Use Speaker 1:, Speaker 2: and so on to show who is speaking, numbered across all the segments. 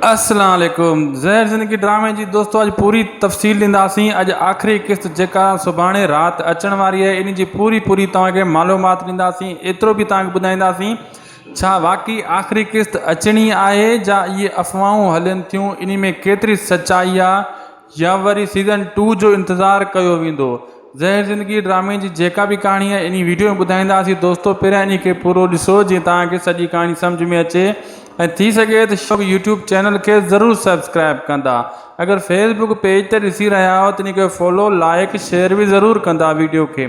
Speaker 1: السلام عليڪم زهر زندگي ڊرامي جي دوستو اڄ پوري تفصيل ڏينداسين اڄ آخري قسط جيڪا سڀاڻي رات اچڻ واري آهي ان جي پوري پوري توهان کي معلومات ڏينداسين ايترو به توهان کي ٻڌائينداسين ڇا واقعي آخري قسط اچڻي آهي جا اهي افواهون هلن ٿيون انهي ۾ ڪيتري سچائي آهي يا وري سيزن ٽو جو انتظار ڪيو ويندو. زهر زندگي ڊرامي جي جيڪا به ڪهاڻي آهي انهي وڊيو ۾ ٻڌائينداسين دوستو پهريان انهي کي پورو ڏسو جيئن توهان کي سڄي ڪهاڻي سمجهه ۾ اچي ۽ ٿي سگهي ته شوق يوٽيوب چينل کي ضرور سبسڪرائب ڪندا اگر فيس بڪ پيج تي ڏسي رهيا آهيو ته انهي کي فالو لائيڪ شيئر به ضرور ڪندا وڊيو کي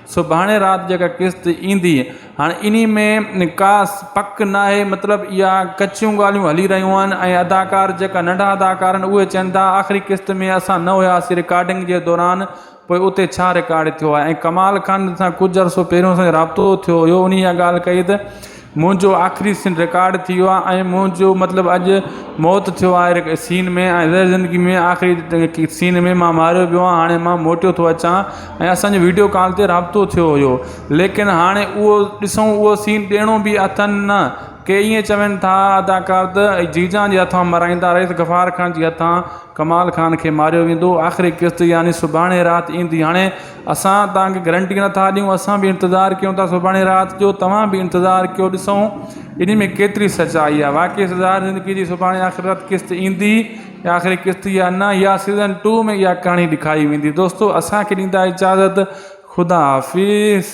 Speaker 1: سڀاڻي رات جيڪا قسط ايندي هاڻي انهي ۾ ڪا پڪ ناهي مطلب اها ڪچيون ڳالهيون هلي رهيون آهن ۽ اداڪار جيڪا ننڍا اداڪار آهن اهي چين ٿا آخري قسط ۾ اسان نه هياسين رڪارڊنگ جي دوران پوء اتي ڇا رڪارڊ ٿيو آهي ۽ ڪمال خان سان ڪجهه عرصو پهريون اسان جو رابطو ٿيو هيو انهي اها ڳالهه ڪئي ته منهنجو آخري سين رڪارڊ ٿي ويو آهي ۽ منهنجو مطلب اڄ موت ٿيو آهي سين ۾ ۽ ريل زندگي ۾ آخري سين ۾ ماं ماريو ويو آهيان هاڻي ماں موٽيو ٿو اچان ۽ اسانجو ويڊيو ڪال تي رابطو ٿيو هيو ليڪن هاڻي اهو ڏسون اهو سين ڏيڻو به اٿن نه ڪي ائين چون ٿا اداڪار ته جيجان جي هٿان مرايندا رئيس غفار خان جي هٿان ڪمال خان کي ماريو ويندو آخري قسط يعني سڀاڻي رات ايندي هاڻي اسان توهان کي گرنٽي نٿا ڏيون اسان به انتظار ڪيون ٿا سڀاڻي رات جو توهان به انتظار ڪيو ڏسون ان ۾ ڪيتري سچائي آهي واقعي سزا زندگي جي سڀاڻي آخرت قسط ايندي يا آخري قسط يا نه يا سيزن ٽو ۾ اها ڪهاڻي ڏيکاري ويندي دوستو اسان کي ڏيندا اجازت خدا حافظ